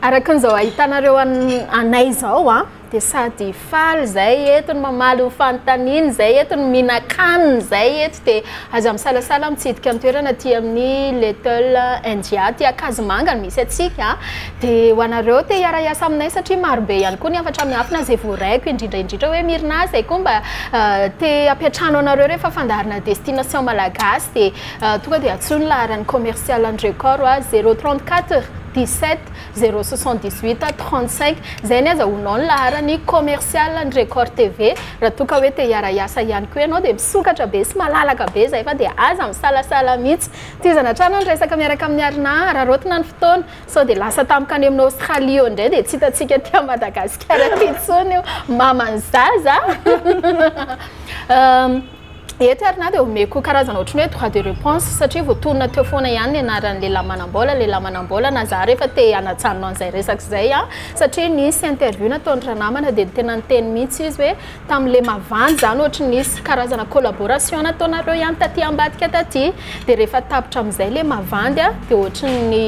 Araka an'izao ahitanareo anay izao a, dia sady faly izay eto no mamaly ny fanontaniana, izay eto no mihinan-kanina, izay eto dia aza misalasala mitsidika ny toerana aty amin'ny Little India, aty Ankazomanga no misy antsika. Dia ho anareo te hiara-hiasa aminay satria marobe ihany koa ny hafatra miafina izay voaraiko, indrindra indrindra hoe Myrna izay koa mba te hampiantrano anareo rehefa fandaharana destination malagasy dia tonga dia antsoy ny laharan'ny commercial an'i Record ho azy, zero trente quatre. 17 078 35 zay ny aza onao ny laharany commercial ny record TV raha toa ka hoe te hiara-hiasa ihany koa ianao dia misokatra be sy malalaka be zay fa dia aza misalasala mihitsy tohizana hatrany ny resaka miaraka amin'ny Arina araraotina ny fotoana sao dia lasa tampoka any amin'ny Australie eo indray dia tsy hitantsika aty Madagasikara aty intsony io maman'ny zaza Eto ary na dia omeko karazana ohatry ny hoe droit de reponse satria voatonona teo foana ihany ny anaran'ny lehilahy manam-bola, lehilahy manam-bola na za rehefa te hanajanona an'izay resaka izay an! satria nisy interview nataon'ny ranamana dia tena niteny mihitsy izy hoe tamin'ny Lemavan izany ohatry ny nisy karazana collaboration nataonareo ihany taty ambadika taty dia rehefa tapitra amin'izay Lemavan dia ohatry ny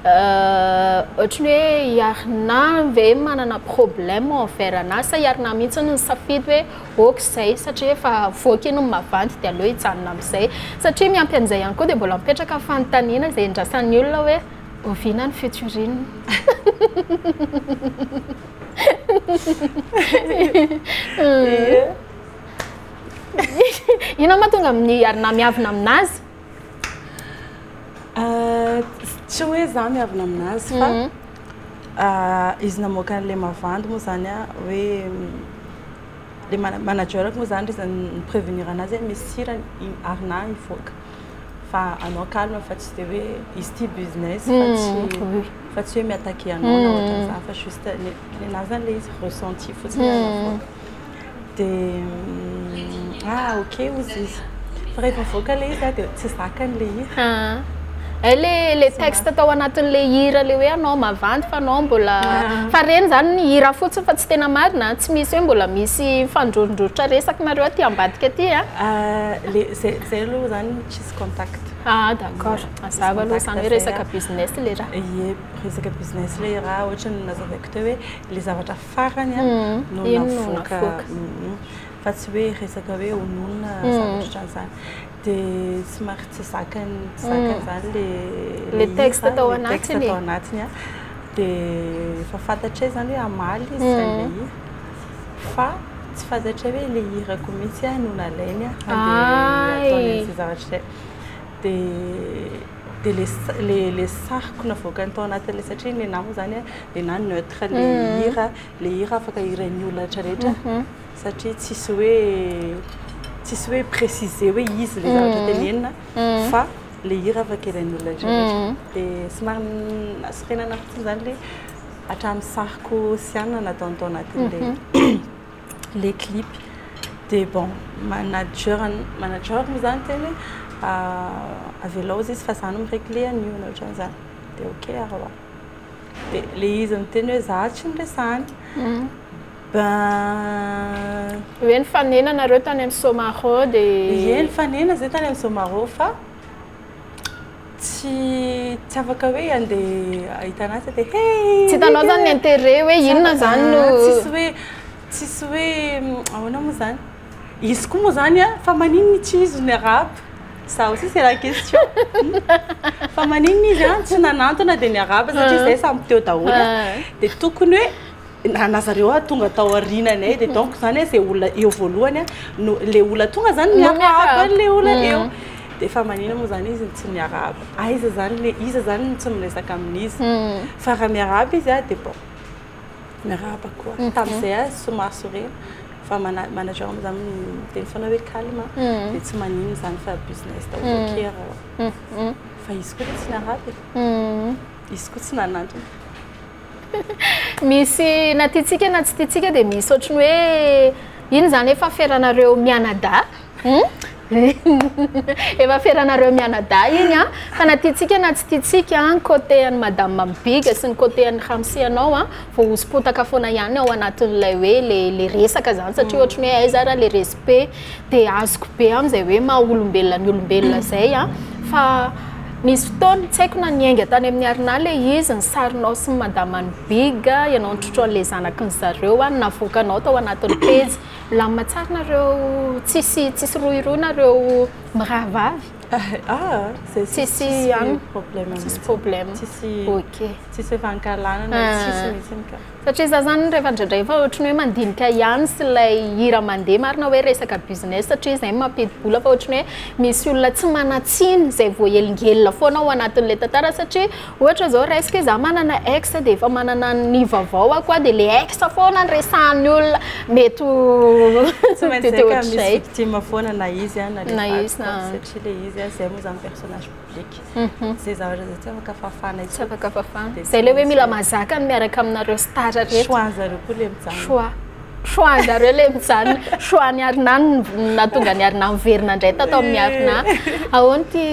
ohatry ny hoe i Arnav ve manana problème envers anah sa i Arnav mihitsy no nisafidy hoe ok izay satria efa avoaka iny ny mavandy dia aleo hijanona amin'izay satria miampy an'izay ihany koa dia mbola mipetraka ny fanontaniana izay endrasan'ny olona hoe oviana ny futuriny inona moa tonga amin'ny ary na miavina amin'azy ah, tsy hoe za miavina amin'azy fa mhm. Izy namoaka an'ilay mavandy moa izany an, hoe le managerako moa izany izy ni-prevenir an'azy hoe misy sira i Arnà hivoaka fa anao calme fa tsy dia hoe izy ity business fa tsy fa tsy hoe mi-attaquer anao na ohatran'izany fa juste ny ny anà izany ilay izy ressenti fotsiny ilay avoaka. dia ah ok hozy izy fa rehefa mivoaka ilay izy dia tsy zakany ilay izy hay le le texte tao anatin'le hira le hoe anao mavandy fa anao mbola fa reny zany ny hira fotsiny fa tsy tena marina tsy misy hoe mbola misy fandrorondrotra resaka nareo aty ambadika aty a le zay zay aloha zany tsisy contact ah d'accord mazava aloha zany hoe resaka business le raha ie resaka business le raha ohatry ny nazavaiko teo hoe le zavatra farany no navoaka fa tsy hoe resaka hoe hononina zavatra ohatran'izany dia somary tsy zakany zakany izany le le texte tao anatiny tao anatiny a dia efa fantatra hoe izany hoe hamaly izy izany le hira fa tsy fantatra hoe le hirako mihitsy a no nalainy a handeha ataony an'izay zavatra izay dia dia le le le sahiko navoakany tao anatin'ilay satria ny anah moa zany dia na neutre le mhm. hira le hira afaka hirain'ny olona rehetra rehetra mhm. satria tsisy hoe tsisy hoe préciser hoe izy le zavatra mhm. tenenina fa le hira afaka hirain'ny olona rehetra rehetra dia somary nasorenana fotsiny zany le hatramin'ny sahiko sy anina nataony tao anatin'ilay le clip de bon manager manager mo zany tena hoe avelao izy fa za no mi-regle an'io na ohatran'ny zany de ok ary hoa de le izy miteny hoe za tsy niresahany ben hoe nifanena nareo tany amin'ny somaro de ie nifanena zay tany amin'ny somaro fa Tsy tsy afaka hoe handeha hahita an'asa dia hey Mika! Tsy hitanao izany ny intérêt hoe inona izany no... Tsisy hoe, tsisy hoe ahoana moa izany? Izy koa moa izany an, fa maninona i Tsy izy no niarahaba? Za aussi c'est la question. Fa maninona izy an, tsy nanantona dia niarahaba satria izahay samy teo daholo an, dia tokony hoe. Nana zareo ah tonga tao aoriananay dia donc zany ah zay olona eo voalohany ah no le olona tonga zany miarahaba an'le olona eo dia efa manina moa zany izy no tsy miarahaba aiza zany le iza zany no tsy miresaka amin'iza fa raha miarahaba izy ah dia bon miarahaba koa tamin'izay ah somary sorena fa mana- manager moa zany miteny foana hoe calme dia tsy manina izany fa business daholo akia raha fa izy koa dia tsy miarahaba e. Izy koa tsy nanantona. Misy na tiantsika na tsy tiantsika dia misy ohatry ny hoe iny izany efa aferanareo mianadahy. Efa aferanareo mianadahy iny an. Fa na tiantsika na tsy tiantsika ny côté an'i madame Big sy ny côté an'i Ramsi anao an, voahoso-potaka foana ihany ao anatin'ilay hoe ilay resaka izany satria ohatry ny hoe aiza ary ilay be dia azoko be amin'izay hoe maha olombelona ny olombelona izay a fa nisy fotoana tsy haiko na niainga tany amin'ny arinà le izy ny sarinao sy ny madaman'ny big ianao nitrotro an'ilay zanaky ny zareo a navoakanao tao anatin'ny pejy milamina tsara nareo tsisy tsisy rohirohy nareo mirahavavy ah tsisy problème tsisy problème ok tsisy efa ankahalanana tsisy mihitsy ka Satria za zany rehefa indraindray efa ohatry ny hoe mandinika ihany sy ilay hira mandeha marina hoe resaka business satria izay no mampidi-bola fa ohatry ny hoe misy olona tsy manan-tsiny izay voahelingelina foana ao anatin'ilay tantara satria ohatra izao raisiko hoe za manana ex dia efa manana ny vaovaoko aho dia ilay ex foana no resahan'ny olona mety ho Tsy maintsy izay ka misy victime foana na izy na ilay vadiko satria ilay izy izay moa izany personnage. publique zay zavatra zay tsy afaka fafana tsy afaka fafana dia ilay hoe mila mazaka ny miaraka aminareo star rehetra choix anzareo koa le mijanona choix choix anzareo le mijanona choix ny arina natonga ny arina miverina indray tato amin'ny arina ahoana ty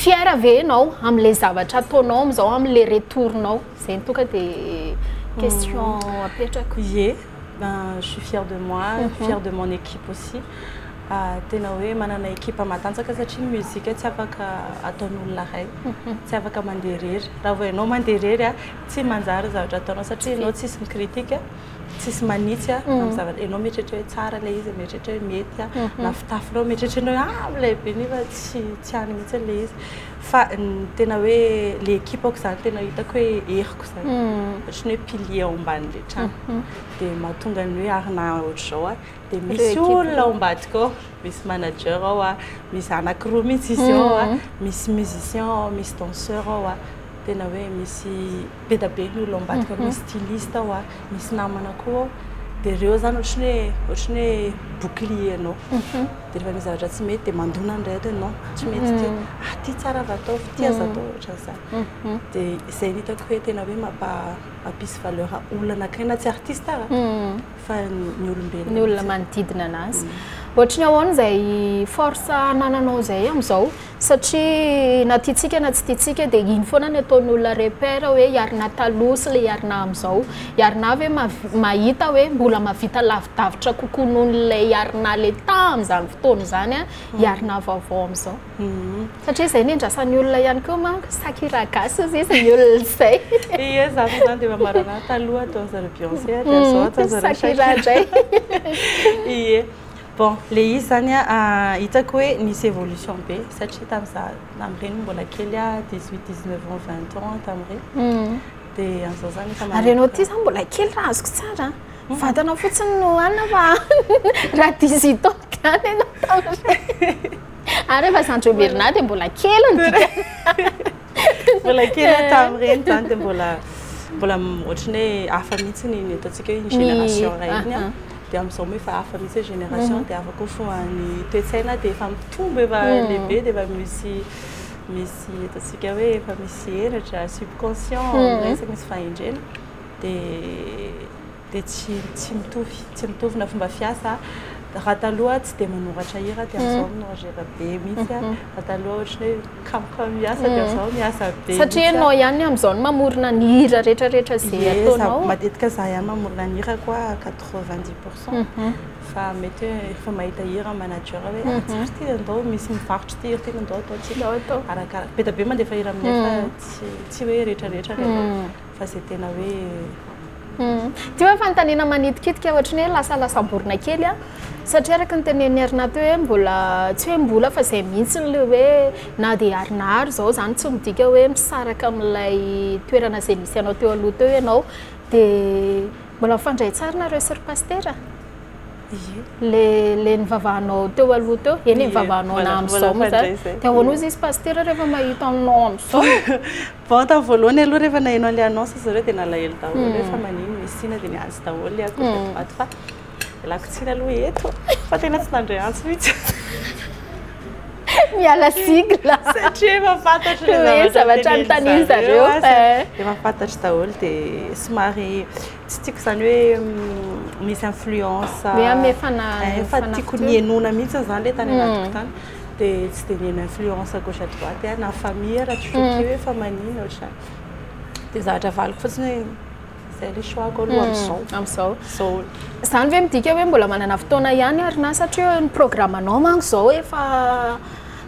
fiera ve ianao amin'ilay zavatra ataonao amin'izao amin'ilay retournao zay ny toka dia question hmm. apetrako ye ben je suis fière de moi hmm. fière de mon équipe aussi Tena hoe manana ekipa matanjaka satria ny mozika tsy afaka ataon'olona iray, tsy afaka mandeha irery. Raha vao ianao mandeha irery, tsy manjary ny zavatra ataonao satria ianao tsisy mi-critique, tsisy manitsy amin'ny zavatra. Ianao mieritreritra hoe tsara ilay izy, mieritreritra hoe mety na fitafinao, mieritreritrnao hoe ah milay be nefa tsy tsy any mihitsy ilay izy. Fa ny tena hoe ilay ekipako izany tena hitako hoe heriko izany, ohatran'ny hoe pilier ao ambanin'ilay trano. Dia mahatonga ny hoe ary na ohatr'izao aho, dia misy olona ao ambadika ao, misy manager ao, misy zanako roa mihitsy izy ao, misy musicien ao, misy danseur ao, tena hoe misy be dia be ny olona ao ambadika, misy styliste ao, misy namana koa ao, dia ireo izany ohatran'ny hoe ohatran'ny hoe bouclier anao, dia rehefa misy zavatra tsy mety dia mandona ny rehetra ianao, tsy mety ity, ah ity tsara aza ataovy, ity aza ataovy, ohatran'izany, dia izay no hitako hoe tena hoe mampisy valeur olona anankiray na tsy artiste aza. fa ny olombelona ny olona manodidina anazy mm. ohatry ny ahoana izay force anananao izay amin'izao satria na tiatsika na tsy tiatsika dia iny foana ny ataon'ny olona repère hoe hiarina taloha sy le hiarina amin'izao hiarina hoe mahita hoe mbola mavita lavidavitra kokoa noho n'ilay hiarina le tamin'izany fotoana izany a hiarina vaovao amin'izao Satria izay ny andrasan'ny olona ihany koa manko, sakira gasy hozy izy ny olona izay. Ie, za avy zany dia efa marana taloha ataon'izareo ry Beyoncé dia mhm, zao ataon'izareo sakira indray. Ie. Bon, le izy zany hitako hoe nisy évolution be satria tamin'iza tamin'ireny mbola kely a 18 19 ans 20 ans tamin'ireny. Mhm. Dia an'izao zany efa Ary ianao ity zany mbola kely raha azoko tsara. Mhm. Vatana fotsiny no hanina fa raha 18 ans gany ianao tamin'ireny. Ary rehefa zany joy Bernard dia mbola kely ny dikany. Mbola kely eh. tamin'ireny izany dia mbola mbola ohatry ny hoe hafa mihitsy ny ny ataontsika hoe ny génération iray iny ah, ah. dia amin'izao moa efa hafa mihitsy ny génération mhm. dia hafa koa fo ny toe-tsaina dia efa mitombo efa mhm. lehibe dia efa misy misy ataontsika hoe efa misy henatra subconscient mhm. resaka misy fahendrena dia dia tsy tsy mitovy tsy mitovy na fomba fiasa raha taloha tsy dia manoratra hira dia amin'izao mm. minoratra be mihitsy mm-hmm. raha taloha ohatran'ny hoe kamka miasa dia amin'izao mm. miasa be satria ianao ihany amin'izao no mamorona ny hira rehetrarehetra izay ataonao matetika za ihany mamorona ny hira koa 90 pourcent mm-hmm. fa mety hoe efa mahita hira manager hoe ah, mm-hmm. tsara ty andao misy mivarotra ty hira ty andao ataontsika arakaraka be da be mandefa hira aminay fa tsy tsy hoe rehetrarehetra rehetra fa zay tena hoe Ity hoe fanontaniana manitikitika ohatry ny hoe lasalasamborina kely a satria araka ny tenenin'i Ernah teo hoe mbola tsy hoe mbola fa zay mihitsy le hoe na dia ary na ary zao zany tsy midika hoe misaraka amin'ilay toerana zay misy anao teo aloha teo ianao de mbola mifandray tsara nareo sy ry pasitera? Ie. Le le nivavahanao teo aloha teo, eny nivavahanao na amin'izao moa zany. Dia ahoana hozy izy pasitera rehefa mahita anao amin'izao? Vao tamin'ny voalohany aloha rehefa naheno an'ilay annonce zareo dia nalahelo daholo hoe fa maninona misy tsiny dia niantso daholo ny akoho tato ho ato fa ialako tsiny aloha eto fa tena tsy nandre antso mihitsy. Miala sigle. Satria efa fantatro le zavatra. Hoe zavatra anontanian'i zareo. Efa fantatro daholo dia somary tsy tiako izany hoe misy influence. Hoe amin'ny fanahy. Efa tiako ny henoina mihitsy izany le tany anatiko tany. dia tsy dia nihaino influence à gauche à droite aho na famille raha tsy fototra hoe efa maninona ohatr'izany. Dia zavatra avaliko fotsiny hoe izay ilay choix-ko aloha amin'izao. Amin'izao. Izao. Izany ve midika hoe mbola manana fotoana ihany ary na satria ny programme-nao manko izao efa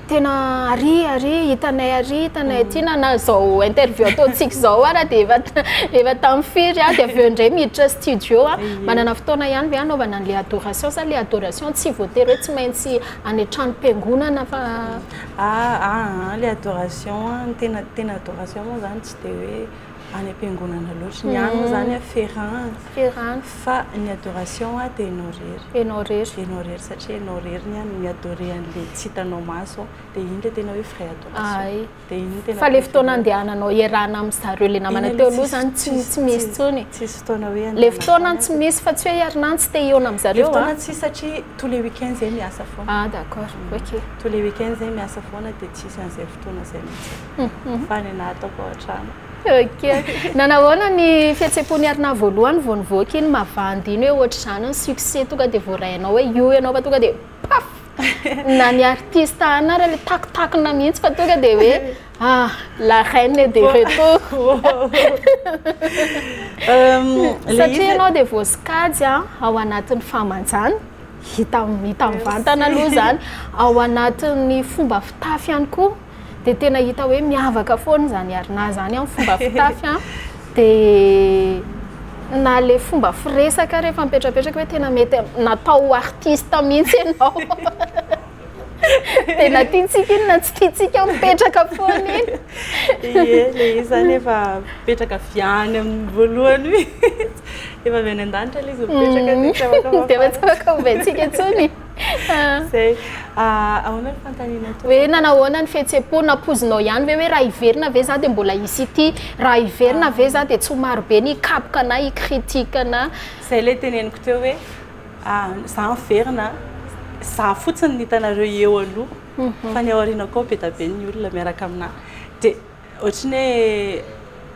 tena ary ary hitanay ary hitanay aty na na izao interview ataontsika izao ary dia efa efa tamin'ny firy aho dia avy eo indray miditra studio aho. Manana fotoana ihany ve hanaovana an'ilay adoration sa ilay adoration tsy voatery hoe tsy maintsy any an-trano piangonana fa ah ah le adoration ny tena tena adoration moa zany tsy dia hoe any am-piangonana loatra ny any moa zany a ferrand ferrand fa ny adoration a dia enao rery enao rery enao rery satria enao rery ny any mi-adorer an'le tsy hitanao maso dia iny le tena hoe vrai adoration ay Fa le fotoana andehananao hiarahana amin'ny zareo le namana teo aloha zany tsy tsy misy tsony. Tsisy fotoana hoe andehanana. Le fotoana tsy misy fa tsy hoe hiarinany tsy te hihaona amin'ny zareo. Le fotoana tsy satria tous les week-ends zay miasa foana. Ah d'accord. OK. Tous les week-ends zay miasa foana dia tsisy an'izay fotoana zay mihitsy. Fa ny anah ataoko ao an-trano. OK. Nanahoana ny fihetsem-pon'i Arnaha voalohany vao nivoaka iny mavandy iny hoe ohatr'izany ny succès tonga dia voarainao hoe io ianao fa tonga dia paf! na ny artiste ana ary le takotakona mihitsy fa tonga dia hoe ah la reine est de retour satria ianao dia voasokajy ah, ao anatin'ny fahamanjana hita hita mivantana aloha izany ao anatin'ny fomba fitafy ihany koa dia tena hita hoe miavaka foana izany ary na izany amin'ny fomba fitafy an dia na le fomba firesaka rehefa mipetrapetraka hoe tena mety natao ho artiste mihitsy ianao dia na tiantsika iny na tsy tiantsika mipetraka foana iny ie le izany efa mipetraka avy any amin'ny voalohany mihitsy efa avy any an-danitra le izy mipetraka dia tsy afaka ovaintsika intsony Zay. Ah, ahoana ny fanontaniana tompoko? Hoe nanao ahoana ny fihetseham-po? Nampoizinao ihany ve hoe raha hiverina ve za dia mbola hisy ity? Raha hiverina ve za dia tsy ho maro be ny hikapoka anà, hi-critique anà? Zay ilay teneniko teo hoe ah, za miverina, za fotsiny ny hitanareo eo aloha fa ny ao aoriana koa be dia be ny olona miaraka aminà. Dia ohatry ny hoe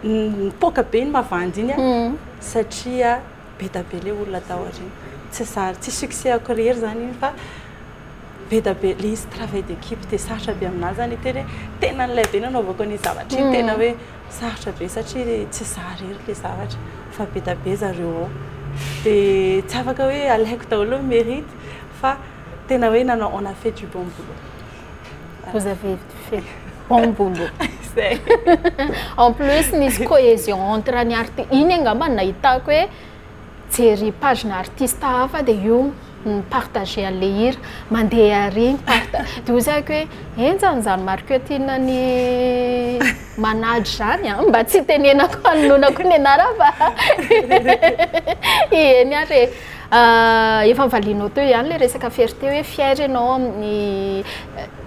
nipoaka be iny mavandy iny an, satria. be da be le olona tao aoriana tsy zary tsy succès ako rery zany iny fa be da be le izy travail d'équipe de sarotra be aminah zany hiteny hoe tena an'ilay be nanaovako an'iny zavatra iny tena hoe sarotra be satria tsy zah rery le zavatra fa be da be zareo ao de tsy afaka hoe alaiko daholo ny merite fa tena hoe nanao on a fait du bon boulot. Vous avez fait bon boulot. Zay. en plus nisy cohésion entre ny arti iny angamba no nahitako hoe jery page-na artiste hafa dia io ni-partager an'ilay hira. Mandeha àry ny part. Dia hoy zahiko hoe henjana izany marketing-n'ny manady izany an! Mba tsy itenenako hanonona koa ny anarany fa eny àry e. Ah, efa nivalianao teo ihany le resaka fierté hoe fier ianao amin'ny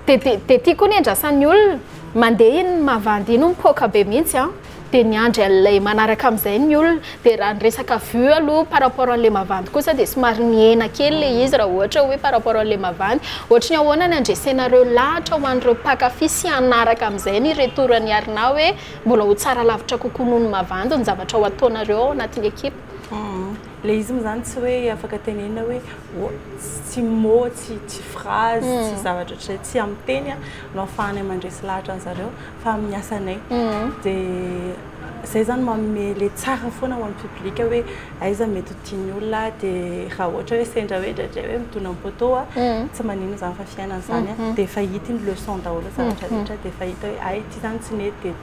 de de de ty koa ny andrasan'ny olona mandeha iny mavandy iny mipoaka be mihitsy an de miandry an'ilay manaraka amin'izay ny olona de raha ny resaka vue aloha par rapport an'ilay mavandy kosa de somary mihena kely le izy raha ohatra hoe par rapport an'ilay mavandy ohatry ny ahoana ny handresenareo lahatra ho an'ireo mpankafy sy hanaraka amin'izay ny retour an'i Arnaud hoe mbola ho tsara lavitra kokoa noho ny mavandy ny zavatra ho ataonareo ao anatin'ny ekipa. Ilay izy moa izany tsy hoe afaka tenenina hoe tsy mot, tsy phrase, tsy zavatra ohatr'izay, tsy amin'ny teny no ahafahanay mandresy lahatra an'i zareo fa amin'ny asanay. Dia izay izany manome le tsara foana ho an'ny public hoe aiza mety ho tian'ny olona dia raha ohatra hoe sendra hoe indraindray hoe midona amin'ny poteau aho tsy maninona izany fa fiainana izany dia efa hita iny leçon daholo ny zavatra rehetra dia efa hita hoe hay ity izany tsy nety dia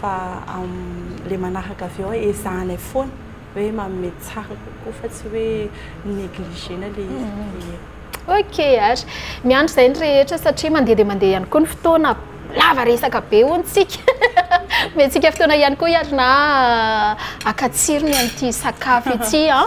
fa le manaraka avy eo ezahanay foana hoe manome tsara kokoa fa tsy hoe mi-negligena le izy. Ok ary, miandry izay ny rehetra satria mandeha dia mandeha ihany koa ny fotoana, lava resaka be hono tsika, omentsika fotoana ihany koa ary na haka tsirony an'ity sakafo ity an.